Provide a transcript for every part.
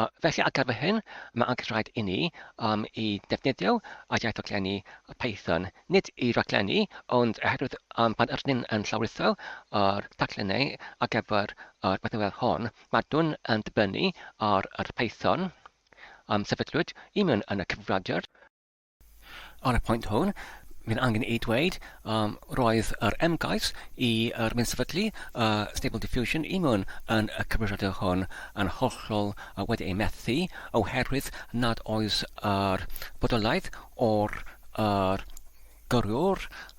Uh, felly ar gyfer hyn, mae angen rhaid i ni um, i defnyddio a iaith raglenni Python, nid i raglenni, ond oherwydd um, pan ydyn ni'n yn llawrutho ar taclennau ar gyfer ar bethau fel hon, mae nhw'n yn dibynnu ar yr Python um, sefydlwyd i mewn yn y cyfrifiadur. Ar y pwynt hwn, mae'n angen ei dweud, um, roedd yr ymgais i yr mynd sefydlu uh, Stable Diffusion i mewn yn y cyfrifiadur hwn yn hollol uh, wedi ei methu oherwydd nad oes yr bodolaeth o'r uh, gyrwyr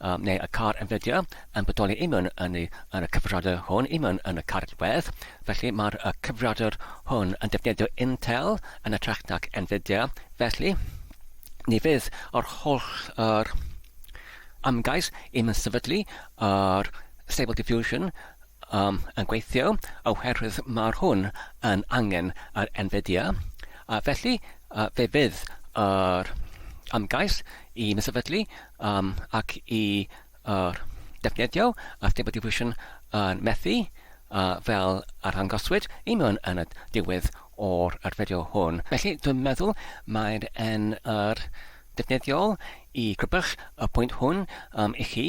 a neu y car yn fideo yn bodoli imwn yn y yn y cyfrifiadur hwn imwn yn y cartref, felly mae'r y cyfrifiadur hwn yn defnyddio Intel yn ytrach nac Nvidia, felly ni fydd yr holl yr ymgais imwn sefydlu yr Stable Diffusion am yn gweithio oherwydd mae'r hwn yn angen yr NVIDIA a felly fe fydd yr ymgais i mi sefydlu ac i defnyddio y Stable Diffusion yn methu fel arddangoswyd i mi yn y diwedd o'r fideo hwn. Felly dwi'n meddwl mae'n yn yr defnyddiol i grybych y pwynt hwn i chi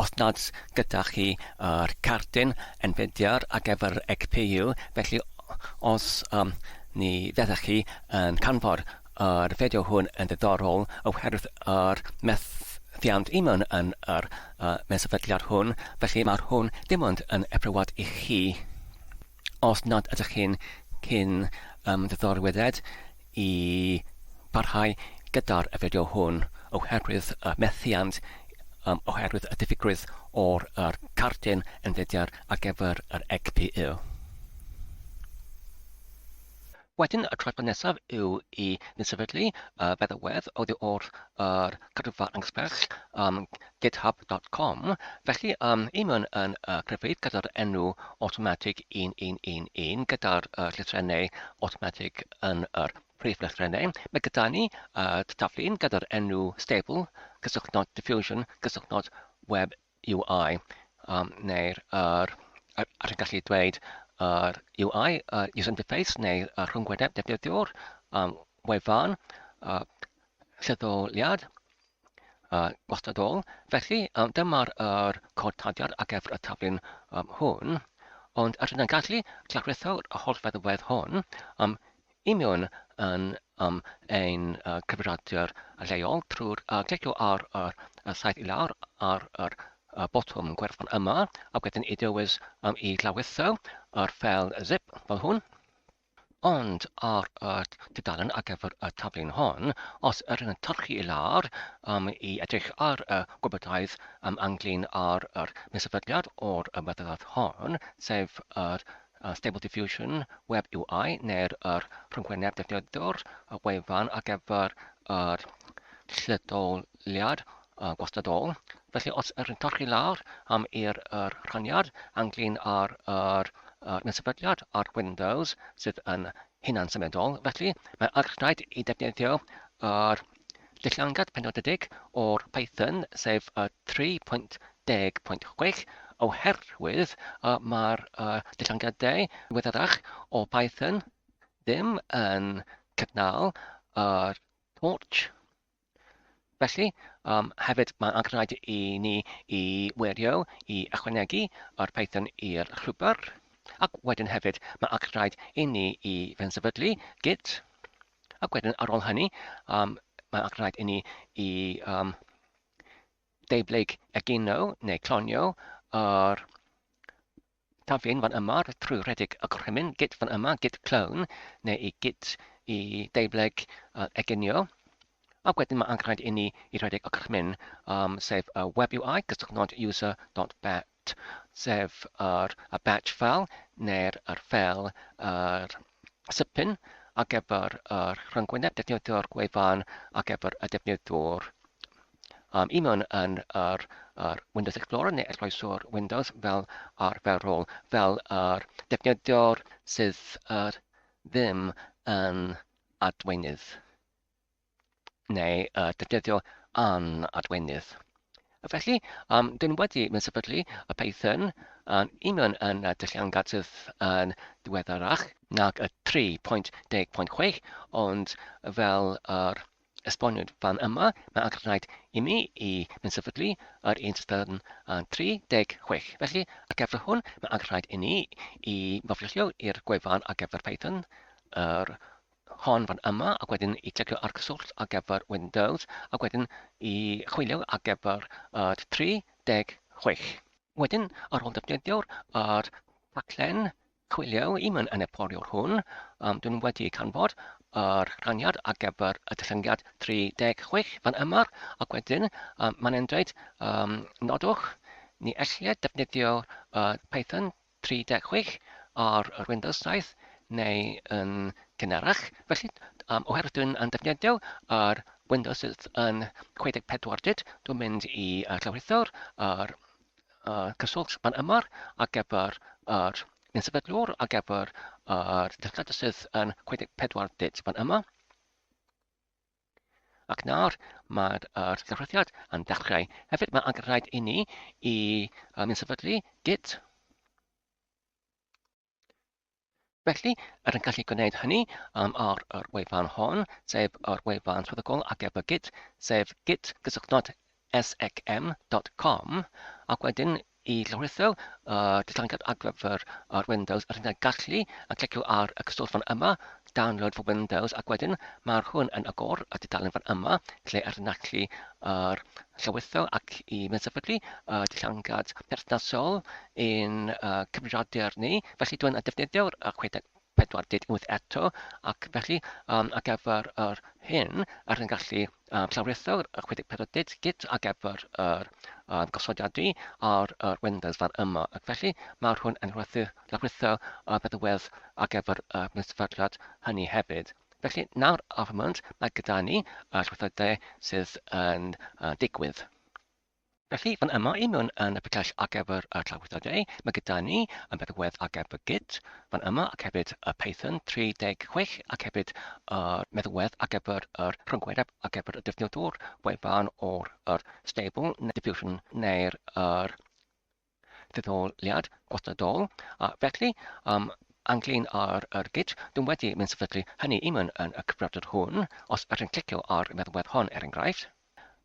Os nad oes gyda chi yr cardyn enfediar ar gyfer eich pil, felly os ni fyddech chi yn canfod yr fideo hwn yn ddiddorol oherwydd yr methiant i mewn yn yr mewn sefydliad hwn, felly mae hwn dim ond yn eprywad i chi. Os nad ydych chi'n cyn ymddiddorwedd i barhau gyda'r fideo hwn oherwydd y methiant oherwydd y diffygrwydd o'r yr cardyn yn fideo ar gyfer yr egpu. Wedyn y traethawd nesaf yw i ni sefydlu y feddalwedd oddi wrth yr cadwfa anghysbell ym github dot com, felly ym i mewn yn y cryfeydd gyda'r enw awtomatig 1111 gyda'r y llythrennau awtomatig yn yr prif lythrennau, mae gyda ni y taflu gyda'r enw stable cysylltnod diffusion cysylltnod web UI um, neu'r yr, yr, yr gallu dweud yr UI, uh, user interface neu uh, rhyngwyneb defnyddiwr, um, wefan, uh, lleddoliad, uh, gwastadol. Felly, um, dyma'r er cod tadiad ar gyfer y taflun um, hwn, ond rydyn yn gallu clawretho'r holl feddwedd hwn um, union yn um, ein uh, cyfrifiadur lleol trwy'r uh, clicio ar yr uh, saeth i lawr ar yr uh, botwm gwerthfawr yma a wedyn i dywys um, i lawitho yr ffel zip fel hwn. Ond ar y tudalen ar gyfer y taflen hon, os yr yn torchi i lawr um, i edrych ar y gwybodaeth um, anglyn ar yr mesafyddiad o'r ymwybyddiaeth hon, sef yr Yn Stable Diffusion, Web UI neu'r yr rhyngwyneb defnyddiwr, y wefan ar gyfer yr lleoliad uh, gwastadol. Felly os yr yn torchi lawr am i'r yr rhaniad anglyn ar yr yr nesefydliad ar Windows sydd yn hunan symudol, felly mae'n archnaid i defnyddio yr Dillangad penodedig o'r Python sef 3.10.6 oherwydd y mae'r dillangiadau diweddarach o Python ddim yn cynnal yr torch. Felly, um, hefyd mae'n angenrhaid i ni i wirio i ychwanegu yr Python i'r llwybr, ac wedyn hefyd mae angenrhaid i ni i fensefydlu git Ac wedyn ar ôl hynny, um, mae'n rhaid i ni i um, deiblyg egino neu clonio yr taflun fan yma trwy rhedeg y gorchymyn git fan yma, git clone, neu i git i deiblyg uh, eginio. Ac wedyn mae'n rhaid i ni i rhedeg y gorchymyn, um, sef y web UI, cysylltnod user.bat. T, sef yr batch file neu'r file yr sypyn ar gyfer yr rhyngwyneb defnyddio'r gwefan ar gyfer y defnyddwr. Um, I mewn yn yr, yr Windows Explorer neu esbloeswr Windows fel arferol, fel yr defnyddio'r sydd yr ddim yn adweinydd. neu uh, defnyddio an adwenydd. Felly, um, dyn wedi mynd sefydlu y Python yn union yn y dyllian gatydd yn diweddarach nag y 3.10.6, ond fel yr esboniwyd fan yma, mae angen rhaid i mi i mynd sefydlu yr un system yn 36. Felly, ar gyfer hwn, mae angen rhaid i ni i faflilio i'r gwefan ar gyfer Python, yr hon fan yma ac wedyn i clicio ar cyswllt ar gyfer Windows ac wedyn i chwilio ar gyfer uh, 36. Wedyn, ar ôl defnyddio'r uh, taglen chwilio i mewn yn y poriwr hwn, um, dyn nhw wedi canfod yr uh, rhaniad ar gyfer y dyllyniad 36 fan yma ac wedyn um, mae'n e'n dweud um, nodwch ni ellir defnyddio uh, Python 30 gig ar yr Windows 7 neu yn gynharach, felly um, oherwydd dwi'n yn defnyddio ar Windows sydd yn 64 bit, dwi'n mynd i uh, llawrytho'r ar uh, cyswllt fan ymor ar gyfer yr yn sefydlwr ar gyfer yr dylledau sydd yn 64 bit fan yma. Ac nawr mae'r er cyfrithiad yn dechrau. Hefyd mae angen rhaid i ni i um, yn sefydlu git. Felly, er yn gallu gwneud hynny um, ar yr wefan hon, sef yr wefan swyddogol ac ef y git, sef git gysylltnod SXM dot com ac wedyn i lawrytho y datganiad ar gyfer yr Windows yr hyn a gallu a clicio ar y cyswllt fan yma Download for Windows ac wedyn mae'r hwn yn agor y dudalen fan yma lle yr hyn a gallu yr llawrytho ac i mynd sefydlu y datganiad perthnasol i'n uh, cyfrifiadur ni felly dwi'n defnyddio'r uh, chwedeg 48 eto, ac felly um, ar gyfer yr hyn ar yn gallu um, llawritho'r 64 dit git ar gyfer yr um, gosodiadu ar yr Windows fan yma, ac felly mae'r hwn yn rhywbeth llawritho y bedwedd ar gyfer y sefydliad hynny hefyd. Felly nawr ar y moment mae gyda ni y llwythoedd sydd yn uh, digwydd. Felly, fan yma i mewn yn y picell ar gyfer y trawiadau, mae gyda ni y meddalwedd ar gyfer Git fan yma ac hefyd y Python 36 ac hefyd y meddalwedd ar gyfer yr rhyngwyneb ar gyfer y defnyddwr wefan o'r yr stable neu diffusion neu'r yr ddetholiad gwladol, a felly, um, anglyn ar yr gyd, dwi'n wedi mynd sefydlu hynny i mewn yn y cyfrifiadur hwn, os ydych chi'n clicio ar y meddalwedd hon er enghraifft,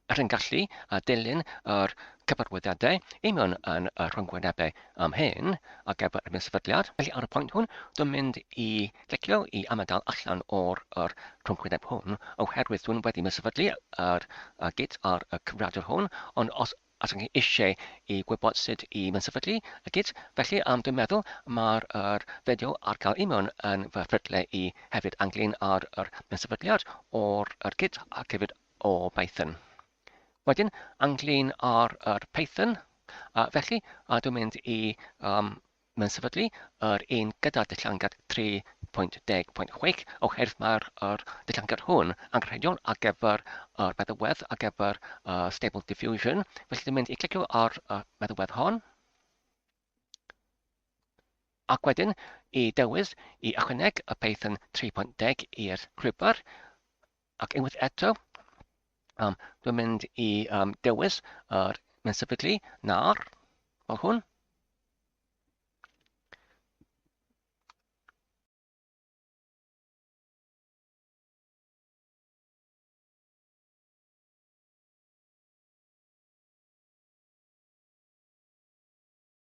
ydych chi'n gallu uh, dilyn yr cyfarwyddiadau i mewn yn y rhyngwynebau am hyn ac efo erbyn sefydliad. Felly ar y pwynt hwn, dwi'n mynd i clicio i amodal allan o'r yr rhyngwyneb hwn, oherwydd dwi'n wedi mynd sefydlu yr uh, gyd ar y cyfrifiadur hwn, ond os os ydych chi eisiau i gwybod sut i fynsefydlu y git, felly am dwi'n meddwl mae'r yr fideo ar cael i mewn yn fy ffrytle i hefyd ynglyn â'r yr mynsefydliad o'r yr git ac hefyd o Python. Wedyn, ynglyn â'r yr Python, a felly a dwi'n mynd i um, Mae'n sefydlu yr un gyda'r dillangard 3.10.6 oherwydd mae'r yr dillangard hwn angenrheidiol ar gyfer yr meddalwedd ar gyfer y Stable Diffusion. Felly dwi'n mynd i clicio ar y meddalwedd hon. Ac wedyn, i dewis i ychwaneg y Python 3.10 i'r llwybr, Ac unwaith eto, um, dwi'n mynd i um, dewis yr uh, mae'n sefydlu nar, fel hwn.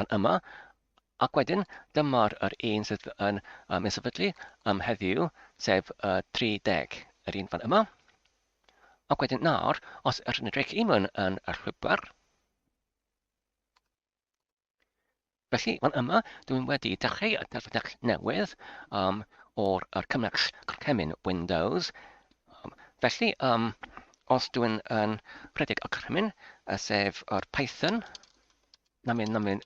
Mae'n yma, ac wedyn dyma'r yr un sydd yn um, yn sefydlu um, heddiw, sef uh, 30, yr un fan yma. Ac wedyn nawr, os yr yn edrych i mewn yn y llwybr, Felly, fan yma, dwi'n wedi dechrau y delfrydell newydd um, o'r er cymell cemyn Windows. Um, felly, um, os dwi'n yn rhedeg y cemyn, sef yr Python, Na myn, na myn,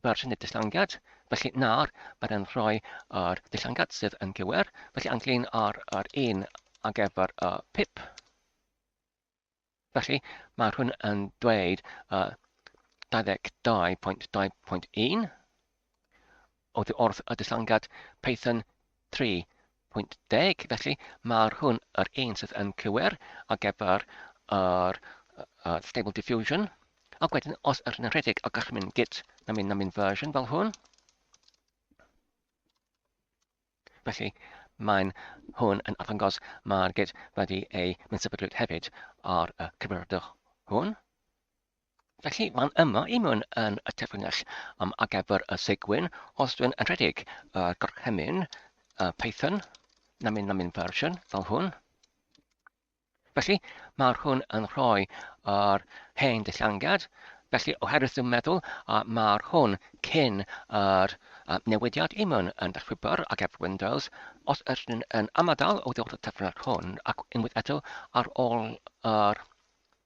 byr sy'n y dilllangiad, felly nawr byr yn rhoi yr dilllangiad sydd yn gywir, felly anglyn ar yr un ag efo'r y pip. Felly mae hwn yn dweud uh, 22.2.1 Oddi wrth y distlangiad Python 3.10, felly mae'r hwn yr un sydd yn cywir ar gyfer yr uh, Stable Diffusion. Ac wedyn, os yr hyn yn rhedeg a gallu mynd git na mynd na mynd version fel hwn, Felly, mae'n hwn yn arddangos mae'r gyd wedi ei mynd sefydlwyd hefyd ar y cyfrifiadur hwn. Felly, mae'n yma i mewn yn y terfynell um, ar gyfer y segwyn, os dwi'n yn rhedeg uh, gorchymyn uh, Python, namin namin version, fel hwn. Felly, mae'r hwn yn rhoi yr hen dillangad, Felly, oherwydd dwi'n meddwl a mae'r hwn cyn yr uh, newidiad i mewn yn dechreubar ac efo Windows, os ydych yn amadal o ddod o tefnod hwn ac unwaith eto ar ôl yr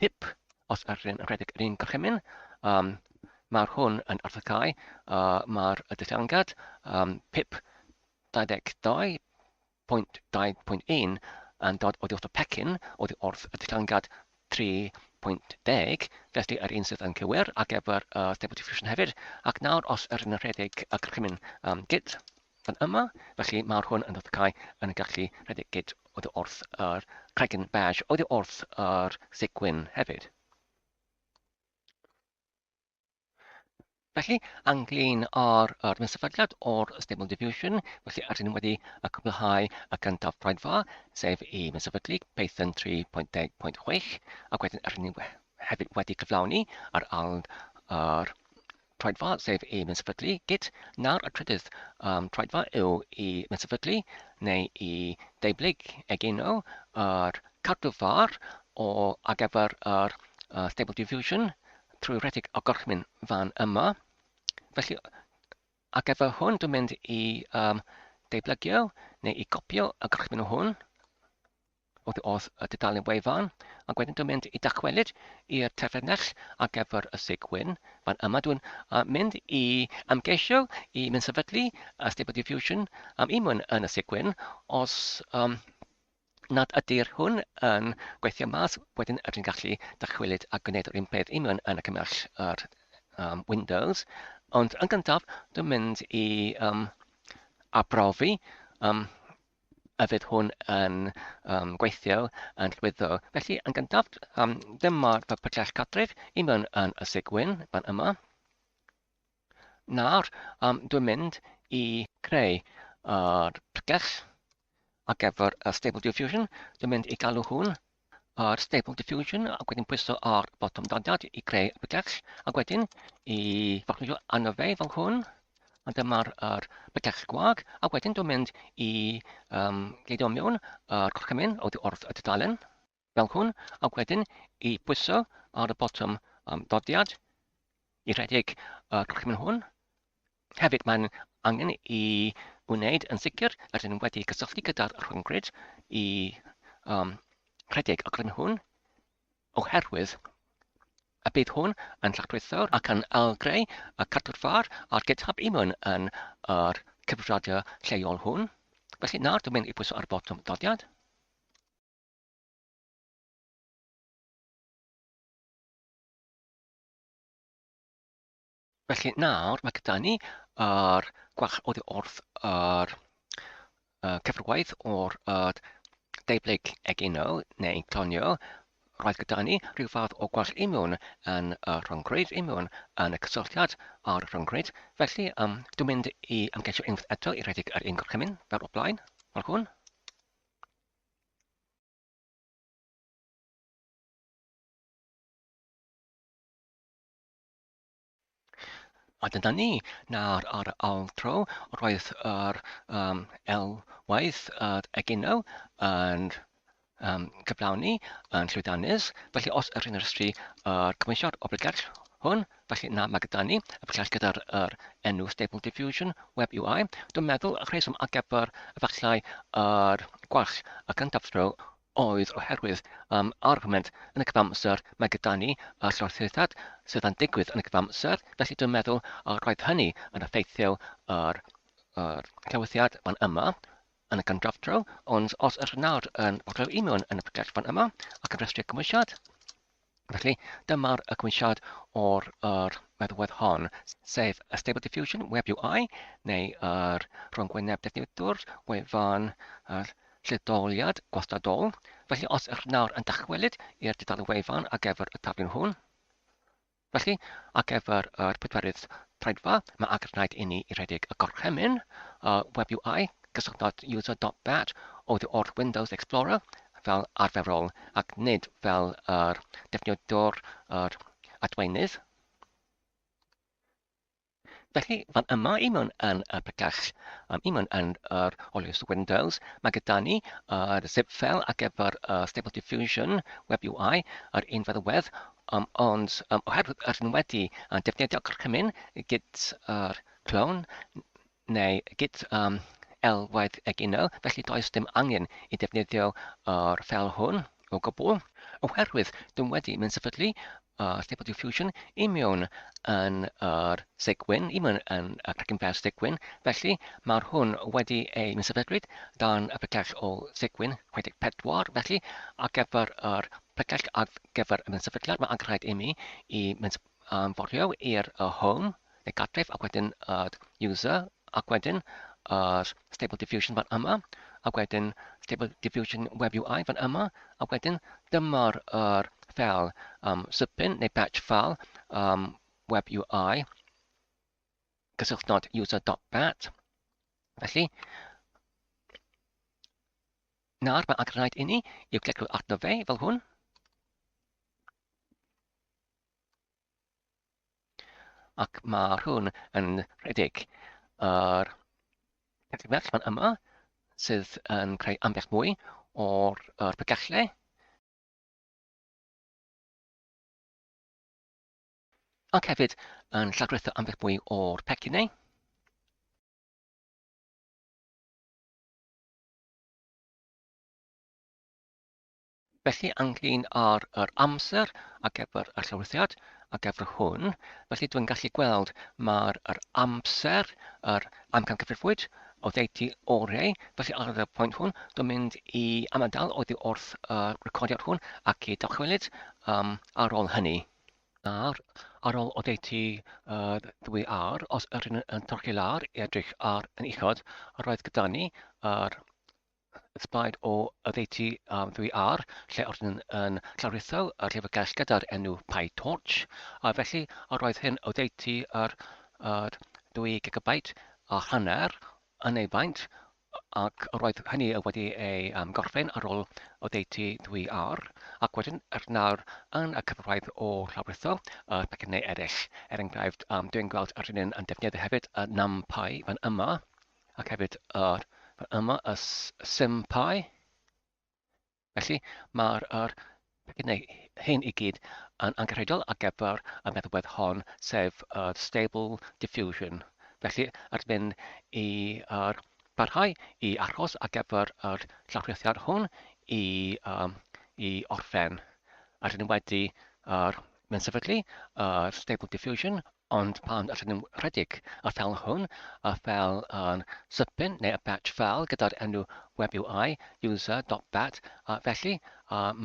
Pip, os yr un rhedeg yr un gorchymyn, um, mae'r hwn yn arddegau, uh, mae'r y dethangad, um, pip 22.2.1 yn dod oddi wrth y pecyn, oddi wrth y dethangad 3.10, felly yr un sydd yn cywir ar gyfer uh, Stable Diffusion hefyd, ac nawr os yr un rhedeg y gorchymyn um, gyd. Fan yma, felly, mae'r hwn yn ddatgau yn y gallu rhedeg gyd oddi wrth yr cregyn beige oddi wrth yr seg gwyn hefyd. Felly, anglyn ar yr sefydliad o'r Stable Diffusion, felly ydyn ni wedi y cwblhau y gyntaf braetfa, sef i sefydlu Python 3.10.6, ac wedyn ydyn ni hefyd wedi cyflawni ar aln yr troedfa sef i fensefydlu git, nawr y trydydd um, troedfa yw i fensefydlu neu i deiblyg egino yr cadw far o ar gyfer yr uh, stable diffusion trwy rhedeg o gorchmyn fan yma. Felly, ar gyfer hwn, dwi'n mynd i um, deiblygio neu i gopio y gorchmyn hwn Oddi wrth y dudalen wefan, ac wedyn dwi'n mynd i dachwelyd i'r terfynell ar gyfer y sig gwyn. Fan yma dwi'n mynd i ymgeisio i mynd sefydlu y Stable Diffusion am un mwyn yn y sig gwyn. Os um, nad ydy'r hwn yn gweithio mas, wedyn rydyn ni'n gallu dachwelyd a gwneud yr un peth un mwyn yn y cymell yr um, Windows. Ond yn gyntaf, dwi'n mynd i um, arbrofi um, a fydd hwn yn um, gweithio yn llwyddo. Felly, yn gyntaf, um, dyma'r prosiect cartref i mewn yn y sigwyn fan yma. Nawr, um, dwi'n mynd i creu uh, prosiect ar gyfer y Stable Diffusion. Dwi'n mynd i galw hwn ar Stable Diffusion ac wedyn pwyso ar botwm daliad i greu y bydell ac wedyn i foclwyo arno fe fel hwn a dyma'r er, bydell gwag ac wedyn dwi'n mynd i um, gleidio mewn yr gorchymyn oddi wrth y dudalen fel hwn ac wedyn i pwyso ar y botwm um, dodiad i rhedeg y gorchymyn hwn Hefyd, mae'n angen i wneud yn sicr rydyn ni wedi cysylltu gyda'r rhyngrwyd i um, rhedeg y grym hwn, oherwydd y bydd hwn yn llachlwythwr ac yn ailgreu y cadw'r far a'r GitHub i mewn yn yr cyfrifiadur lleol hwn. Felly nawr dwi'n mynd i bwyso ar y botwm ddodiad. Felly nawr mae gyda ni yr gwalch oddi wrth yr uh, cyfrwaith o'r uh, deiblyg egino neu clonio. Roedd gyda ni rhyw fath o gwalch imiwn yn y rhyngrwyd, imiwn yn y cysylltiad ar rhyngrwyd. Felly, um, dwi'n mynd i ymgeisio unwaith eto i redeg yr un gorchymyn fel o blaen, fel hwn. A dyna ni, nawr ar y ail tro, roedd yr um, elwaith yr egino yn um, cyflawni yn llwydannus. Felly os yr hyn ystri yr cymwysio'r obligell hwn, felly na mae gyda ni y pellach gyda'r er enw Stable Diffusion Web UI. Dwi'n meddwl y rheswm ar gyfer efallai yr gwall y cyntaf tro oedd oherwydd um, argument yn y cyfamser mae gyda ni a llorthythiad sydd yn digwydd yn y cyfamser, felly dwi'n meddwl uh, roedd hynny yn effeithiol ar yr clywyddiad fan yma yn y gyndraf draw, ond os yr nawr yn bodleu union yn y prosiect fan yma ac yn rhestru cymwysiad, Felly, dyma'r ygwynsiad o'r yr meddwedd hon, sef y Stable Diffusion Web UI, neu yr rhwngwyneb defnyddiwr wefan yr lleddoliad gwastadol. Felly, os ych nawr yn dychwelyd i'r dudalen wefan ar gyfer y taflen hwn, felly, ar gyfer yr pedwerydd traedfa, mae agor rhaid inni i redeg y gorchymyn uh, Web UI, cysylltnod user.bat, oddi wrth Windows Explorer, fel arferol ac nid fel yr defnyddiwr yr adweinydd. Felly, fan yma i mewn yn y pregell, um, i mewn yn yr olios Windows, mae gyda ni yr uh, zip file ar gyfer uh, Stable Diffusion Web UI, yr un feddywedd, um, ond um, oherwydd yr un wedi uh, defnyddio gorchymyn gyda'r clone, neu git am elwaith egino, felly does dim angen i ddefnyddio yr ffel hwn o gwbl, oherwydd dwi wedi mynd sefydlu uh, Stable Diffusion i mewn yn yr segwyn, i mewn yn y Cracking Fast segwyn, felly mae'r hwn wedi ei mynd sefydlwyd dan y pregell o segwyn 64, felly ar gyfer yr pregell ar gyfer y mynd sefydliad, mae angen rhaid i mi i mynd Yn foriau i'r home neu gartref ac wedyn yr user ac wedyn yr stable diffusion fan yma ac wedyn stable diffusion web UI fan yma ac wedyn dyma'r yr fel um, sypyn neu batch fel um, web UI cysylltnod user.bat. Felly, nawr mae angen rhaid i ni i'w clicio'r arno fe fel hwn. Ac mae hwn yn rhedeg yr Felly fan yma sydd yn creu ambell mwy o'r, or bygellau. Ac hefyd yn llagwretho ambell mwy o'r pecinau. Felly, ynglyn â'r yr amser ar gyfer y llofruddiad ar gyfer hwn, felly dwi'n gallu gweld mae'r yr amser, yr amcangyfrifwyd oddeutu oreu, felly ar y pwynt hwn, dwi'n mynd i amadael oddi wrth y recordiad hwn ac i dychwelyd um, ar ôl hynny. Nawr, ar ôl oddeutu uh, ddwy ar, os yr yn torchi lawr i edrych ar yn uchod, roedd gyda ni yr Sblaid o oddeutu um, ddwy ar, lle oedd yn, yn llawritho y llyfrgell gyda'r enw PyTorch, a felly yr oedd hyn oddeutu yr, yr ddwy gigabait a hanner yn ei faint, ac yr oedd hynny wedi ei um, gorffen ar ôl oddeutu ddwy ar, ac wedyn er nawr yn y cyfraith o llawritho y uh, pecynau eraill. Er enghraifft, um, dwi'n gweld yr un yn defnyddio hefyd y uh, NumPy fan yma, ac hefyd yr yma y sympau. Felly mae'r er, neu hyn i gyd yn angenrheidiol ar gyfer y meddalwedd hon, sef y stable diffusion. Felly, ar mynd i er, barhau i achos ar gyfer yr llawrythiad hwn i, um, i orffen. Ar ni'n wedi er, mynd sefydlu yr stable diffusion Ond pan allen nhw rhedeg y ffeil hwn, y ffeil yn sipyn neu y batch ffeil gyda'r enw web yw I, user dot bat, a felly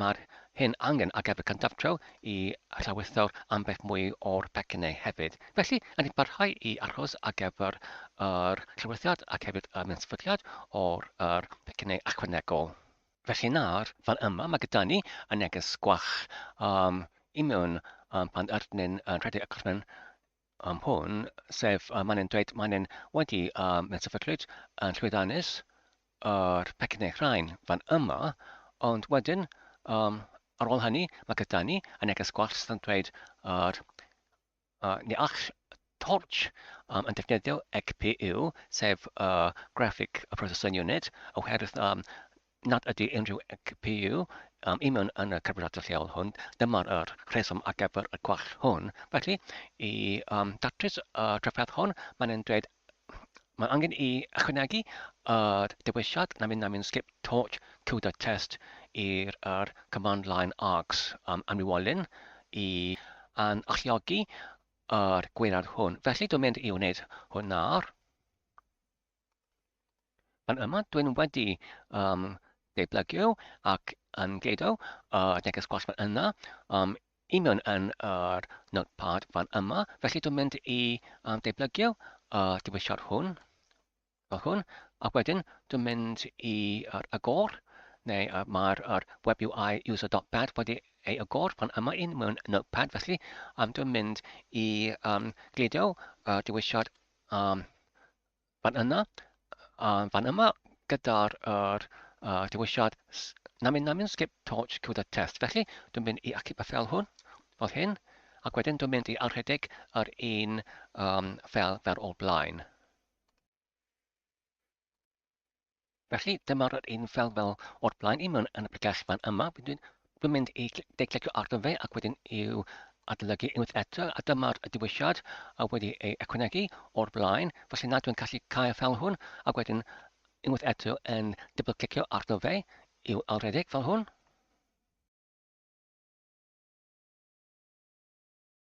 mae'r hyn angen ar gyfer cyndafdreo i llawysor ambell mwy o'r pecynnau hefyd. Felly, yn ni parhau i aros ar gyfer yr llawysoriad ac hefyd y mewnfydiad o'r yr pecynnau ychwanegol. Felly nawr, fel yma, mae gyda ni y neges gwach um, i mewn um, pan arnyn yn rhedeg y gorffen um, hwn, sef um, maen nhw'n dweud maen nhw'n wedi um, mewn sefydlwyd yn llwyddanus yr pecyn neu rhain fan yma, ond wedyn um, ar ôl hynny mae gyda ni y neges gwach sydd yn dweud yr A, Ni all Torch um, yn defnyddio GPU, sef uh, Graphic Processing Unit, oherwydd um, nad ydy unrhyw GPU um, i mewn yn y carburator lleol hwn. Dyma'r er rheswm ar gyfer y gwall hwn. Felly, i um, datrys y uh, trafferth hwn, mae'n dweud Mae angen i ychwanegu yr dewisiad na min na min skip torch to the test i'r yr command line args um, amrywolyn i an alluogi yr gweirad hwn. Felly dwi'n mynd i wneud hwn nawr. Yn yma, dwi'n wedi um, deblygio ac yn gludo uh, neges gwas fan yna, um, union yn yr uh, notepad fan yma. Felly dwi'n mynd i um, deblygio uh, diwisiad hwn, fel hwn, ac wedyn dwi'n mynd i uh, agor, neu uh, mae'r uh, web UI user.bed wedi ei agor fan yma un mewn notepad, felly um, dwi'n mynd i um, gludo uh, diwisiad um, Fan yna, a fan yma gyda'r er, uh, dewisiad namin namin skip torch to the test. Felly, dwi'n mynd i acip y fel hwn, fel hyn, ac wedyn dwi'n mynd i arhedig yr un um, fel, fel o'r blaen. Felly, dyma'r yr un fel fel o'r blaen i mewn yn y bregell fan yma. Dwi'n, dwi'n mynd i deiclicio arno fe ac wedyn i'w adolygu unwaith eto, a dyma'r diwysiad a wedi ei econegu o'r blaen. Felly na, dwi'n gallu cael fel hwn, a wedyn unwaith eto yn dybl-clicio arno fe i'w alredeg fel hwn.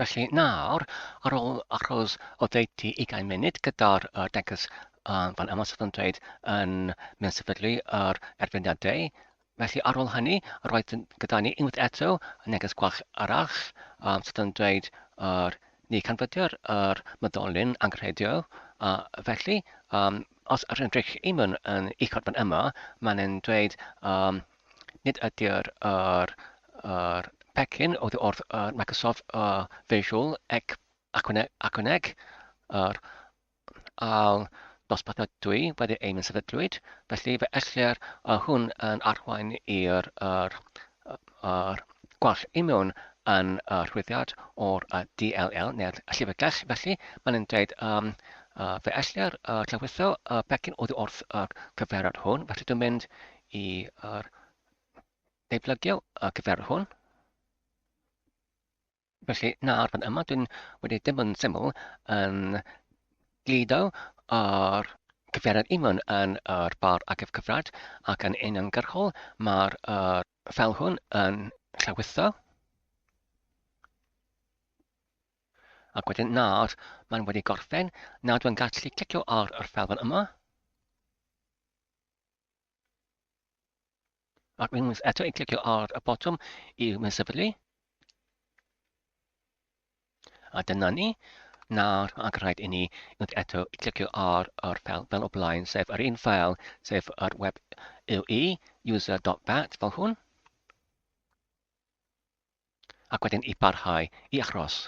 Felly nawr, ar ôl achos oddeutu ugain munud gyda'r uh, degys uh, fan yma sydd yn dweud yn mynd sefydlu yr erfyniadau, felly ar ôl hynny, roedd gyda ni unwaith eto y neges gwach arall um, sydd yn dweud yr ni canfydio'r yr myddolyn anghredio, a felly um, os rydych chi yn eich fan yma, mae'n dweud um, nid ydy'r yr, yr pecyn oddi wrth uh, Microsoft uh, Visual ac Acroneg, Acroneg yr al dosbarthiad dwi wedi ein sefydlwyd, felly fe ellir uh, hwn yn arwain i'r er, er, gwall i mewn yn uh, rhwyddiad o'r uh, DLL neu'r llyfrgell, felly mae'n yn dweud um, uh, fe ellir uh, llawritho uh, pecyn oddi wrth y uh, cyfeiriad hwn, felly dwi'n mynd i ar ei plygio ac y fer hwn. Felly, nawr fan yma, dwi'n wedi dim ond syml yn glido ar cyfeiriad unman yn yr bar agaf cyfrad ac yn uniongyrchol mae'r er, fel hwn yn llawitho. Ac wedyn nawr mae'n wedi gorffen, nawr dwi'n gallu clicio ar yr fel fan yma. Ac unwaith eto i clicio ar y botwm i'w mysefydlu. A dyna ni. Nawr, ac rhaid i ni unwaith eto i clicio ar yr ffel fel o blaen, sef yr un ffel, sef yr web UE, user.bat, fel hwn. ac wedyn i barhau i aros.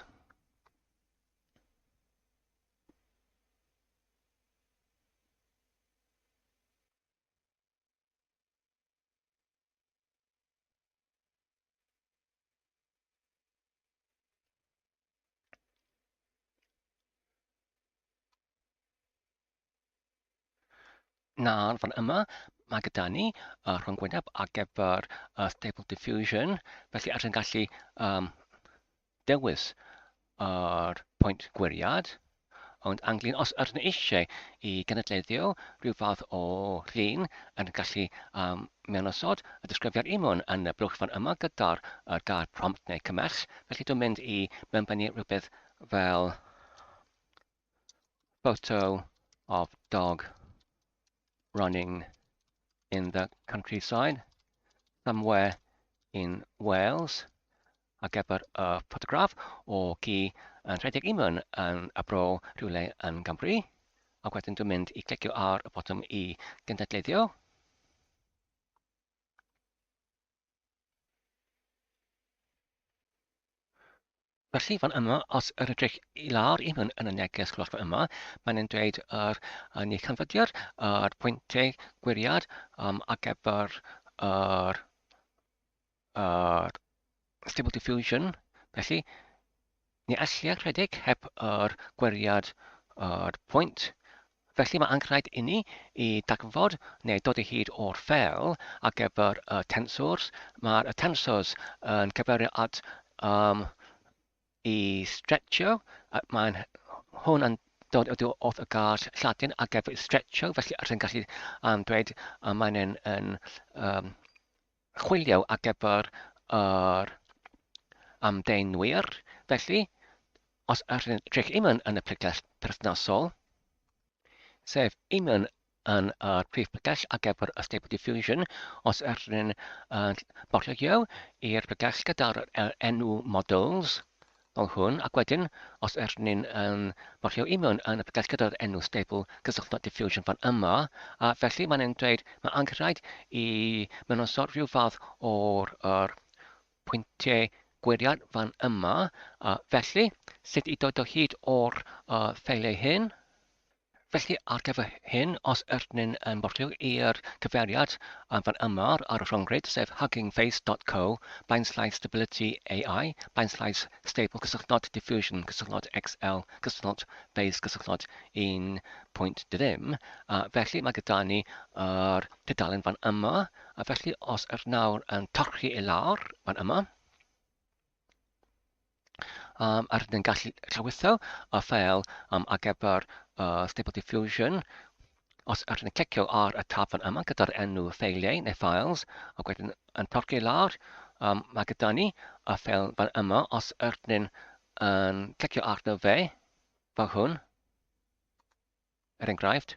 Nawr, fan yma, mae gyda ni uh, rhwng gwyneb ar gyfer uh, Stable Diffusion, felly ar sy'n gallu um, dewis yr uh, pwynt gwiriad, Ond ynglyn os ydyn nhw eisiau i gynadleddio rhyw fath o rin yn gallu um, mewnosod y disgrifiad imwn yn y blwchfan yma gyda'r uh, gair prompt neu cymell, felly dwi'n mynd i mewnbynnu rhywbeth fel photo of dog running in the countryside somewhere in Wales Ar gyfer y ffotograff o ci yn rhedeg i mewn yn y bro rhywle yn Gymru, ac wedyn dwi'n mynd i clicio ar y botwm i gynadleddio. Felly fan yma, os yr ydych i lawr i mewn yn y neges golosfa yma, mae'n yn dweud yr uh, ni canfyddiad, yr pwyntiau gwiriad um, ar gyfer yr ar Stable Diffusion, felly ni allai rhedeg heb yr gweriad o'r pwynt. Felly mae anghraid inni i dagfod neu dod o hyd o'r ffel ar gyfer y tensors. Mae'r y tensors yn cyferio at um, i stretchio, mae'n hwn yn dod oddi wrth y gair Lladin ar gyfer stretcho, felly rydyn ni'n gallu um, dweud y mae'n yn, yn um, Chwilio ar gyfer yr amddenwyr, felly, os ydych imwn yn y pregeth perthnasol, sef imwn yn y prif pregeth ar gyfer y Stable Diffusion, os ydych yn bortreio i'r pregeth gyda'r enw models, Fel hwn, ac wedyn, os ydyn ni'n yn marcio union yn y pegell gyda'r enw stable, cysylltwch diffusion fan yma, a felly mae'n ein dweud mae angenrhaid i mynynsoddi rhyw fath o'r yr pwyntiau gwiriad fan yma, a felly, sut i dod o hyd o'r uh, ffeiliau hyn? Felly, ar gyfer hyn, os ydyn ni'n yn portio i'r cyfeiriad fan yma ar y rhyngrwyd, sef huggingface.co, bainslaes stability AI, bainslaes stable cysylltnod diffusion cysylltnod XL cysylltnod face cysylltnod 1.2 ddim, a felly mae gyda ni yr tudalen fan yma, a felly os ydyn nawr yn torchi i lawr fan yma, um, ar yn gallu llawysau a fel um, ar gyfer uh, Stable Diffusion, os ar yn clicio ar y tab fan yma gyda'r enw ffeiliau neu files, a wedyn yn torci lawr, um, mae gyda ni a fel fan yma, os ar yn um, clicio arno fe, fel hwn, er enghraifft,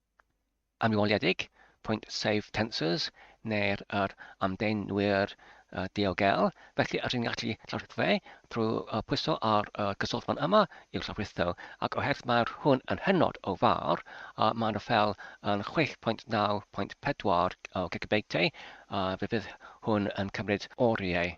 amlwyiedig, pwynt sef tensors neu'r yr amddenwyr uh, diogel, felly rydyn ni'n gallu llawrytho fe trwy uh, pwyso ar uh, gyswllt fan yma i'w llawrytho, ac oherwydd mae'r hwn yn hynod o fawr, uh, mae'n y fel yn 6.9.4 o gigabyteau, uh, fe fydd hwn yn cymryd oriau.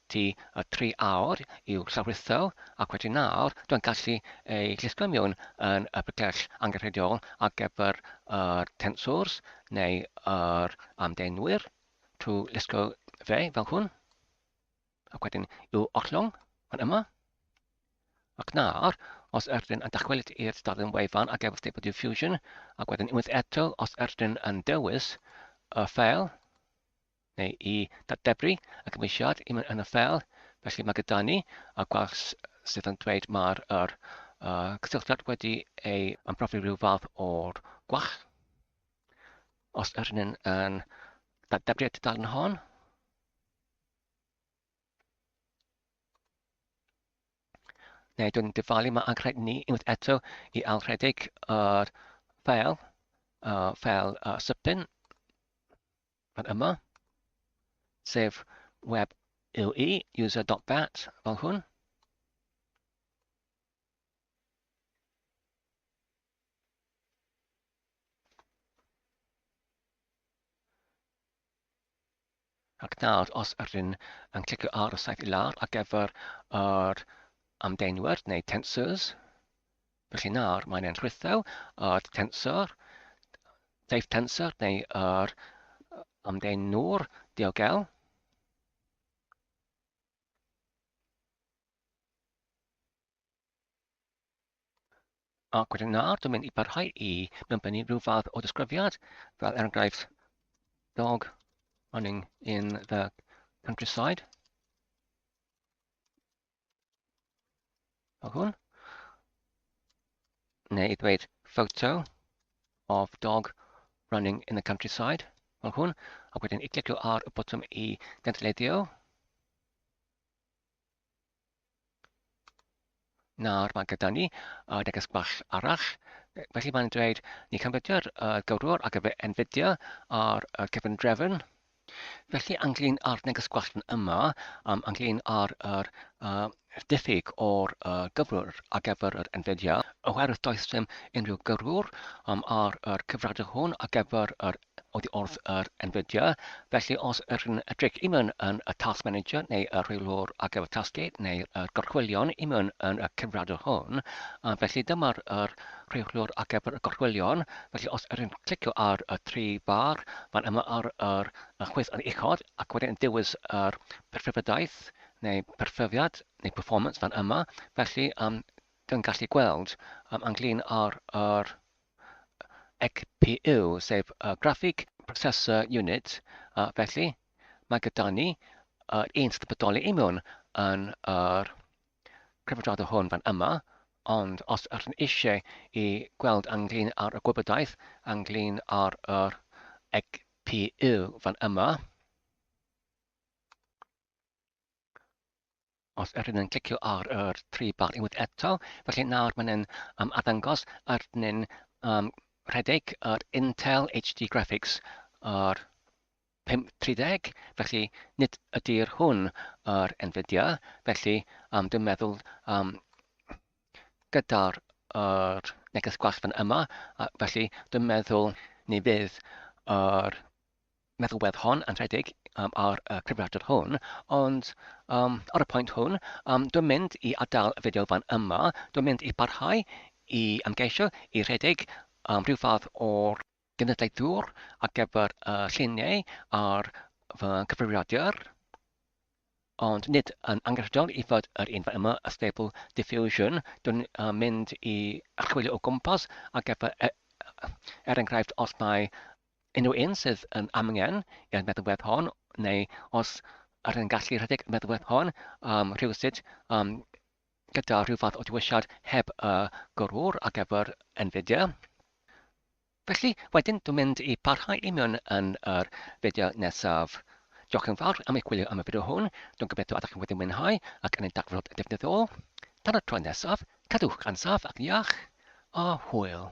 Ti a tri awr i'w llawrytho ac wedyn nawr dwi'n gallu ei glusgo miwn yn y bygell angenrheidiol ar gyfer yr tensors neu yr amddenwyr trwy lusgo fe fel hwn ac wedyn i'w ollwng fan yma ac nawr os ydyn yn dychwelyd i'r stadiwm wefan ar gyfer Stable Diffusion ac wedyn unwaith eto os ydyn yn dewis y ffeil neu i ddatblygu y cymwysiad i mewn yn y ffeil, felly mae gyda ni y gwers sydd yn dweud mae'r yr, uh, cysylltiad wedi ei ymprofi rhyw fath o'r gwach. Os yr hynny'n yn ddatblygu y tudalen hon, neu dwi'n dyfalu mae anghred ni unwaith eto i alredig yr ffeil, uh, ffeil uh, sypyn. fan yma, sef web UI, user.bat, fel hwn. Ac nawr, os ydyn yn clicio ar y saith i lawr ar gyfer yr amdeinwyr neu tensors, Felly nawr mae'n enghreiffau o'r tensor, teip tensor neu yr amdden nŵr diogel. Ac wedyn nawr, dwi'n mynd i barhau i mewnbennu rhyw fath o ddisgrifiad, fel er enghraifft, dog running in the countryside. o hwn, neu i ddweud photo of dog running in the countryside, fel hwn, ac wedyn i glicio ar y botwm i gynllunio. Nawr mae gyda ni uh, neges bach arall. Felly mae'n dweud, ni canfydio'r uh, gywrwr ac efe enfidio ar uh, cefn drefn, Felly, ynglyn â'r neges gwellt yma, um, ynglyn â'r er, uh, diffyg o'r uh, gyflwr ar gyfer yr Nvidia, oherwydd does dim unrhyw gyrrwr um, ar yr cyfradu hwn ar gyfer yr oddi wrth yr Nvidia. Felly, os yr yn edrych i mewn yn y Task Manager neu y rheilwr ar gyfer tasgu neu'r gorchwylion i mewn yn y cyfradu hwn, um, felly dyma'r er, rheoliwr ar gyfer y gorchwylion, felly os ydych chi'n clicio ar y tri bar fan yma ar yr chwith yn uchod ac wedyn yn dewis yr perfyfydaeth neu perfyfiad neu performance fan yma, felly um, yn gallu gweld um, ynglyn â'r er, EGPU, sef uh, Graphic Processor Unit, uh, felly mae gyda ni yr uh, un sydd yn bodoli i mewn yn yr er, cyfarfodydd hwn fan yma, ond os ydych chi'n eisiau i gweld ynglyn ar y gwybodaeth ynglyn ar yr EGPU fan yma, os ydyn yn clicio ar yr tri bar unwaith eto, felly nawr mae'n um, addangos arnyn um, rhedeg yr Intel HD Graphics, yr 50, felly nid ydy'r hwn yr enfydia, felly am dim meddwl am gyda'r yr neges gwallt fan yma, a felly dim meddwl ni fydd yr meddylwedd hon yn rhedeg um, ar y cyfrifiadur hwn, ond um, ar y pwynt hwn, um, dwi'n mynd i adael y fideo fan yma, dwi'n mynd i barhau i ymgeisio i rhedeg um, rhyw fath o'r genedlaethwr ar gyfer y lluniau ar fy nghyfrifiadur, ond nid yn angenrheidiol i fod yr un yma, y Stable Diffusion. Dwi'n uh, mynd i archwilio o gwmpas ar gyfer, e, er enghraifft, os mae unrhyw un sydd yn amgen i'r meddalwedd hon, neu os yr yn gallu rhedeg y meddalwedd hon um, rhywsut um, gyda rhyw fath o dywisiad heb y gorwr ar gyfer Nvidia. Felly, wedyn dwi'n mynd i parhau i mewn yn yr fideo nesaf. Diolch yn fawr am eich gwylio am y fideo hwn, dwi'n gobeithio ydych chi wedi mwynhau ac yn ei dagfod defnyddiol. Tan y tro nesaf, cadwch gan saff ac iach, a hwyl!